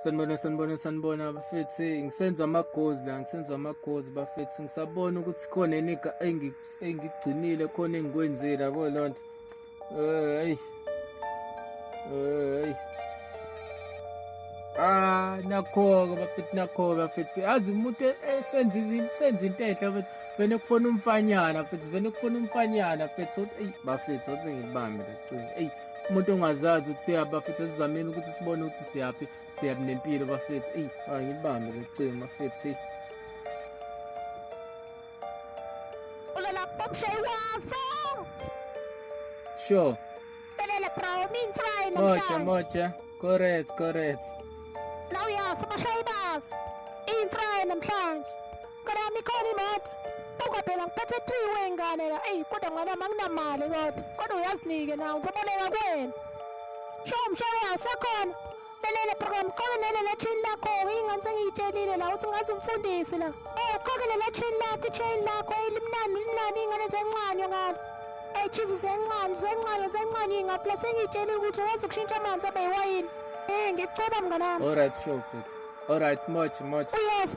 sanibona sanibona sanibona bafethi ngisenza amagozi la ngisenza amagozi bafethi ngisabona ukuthi khona eniga engigcinile khona engikwenzile yabo loo nto eyi eyi Ah nakho-ke bafethi nakho-ke bafethi yazi umuntu esenza senza into enhle bafethi vele kufona umfanyana bafethi vele kufona umfanyana bafethi sothi eyi bafethi sothi ngilibambe lacini eyi umuntu ongazazi ukuthi siyaphi bafethu esizameni ukuthi sibone ukuthi siyaphi siyaphi nempilo bafethu eyi angibambe locingo bafethu eyi Sure. Belele bro, min try Moja, moja. Correct, correct. Now yes, mashaybas. In try namhlanje. Karami khona imoto. Buka phela ngiphethe three way ngane la. Ey kodwa ngane yami anginamali kodwa. Kodwa uyazinike nawe ngizoboleka kuwena. Sho mshana wawo sekhona. Lelele program qoke nelele chain lakho ingane sengiyitshelile la uthi ngazi umfundisi la. Eh qoke lele chain lakho chain lakho elimnani elimnani ingane zencanywa ngalo. Eh chief zencanywa zencanywa zencanywa ingapla sengiyitshelile ukuthi wazi ukushintsha amanzi abe yiwayini. Eh ngicela mnganami. Alright sure mfethu. Alright much much. Yes.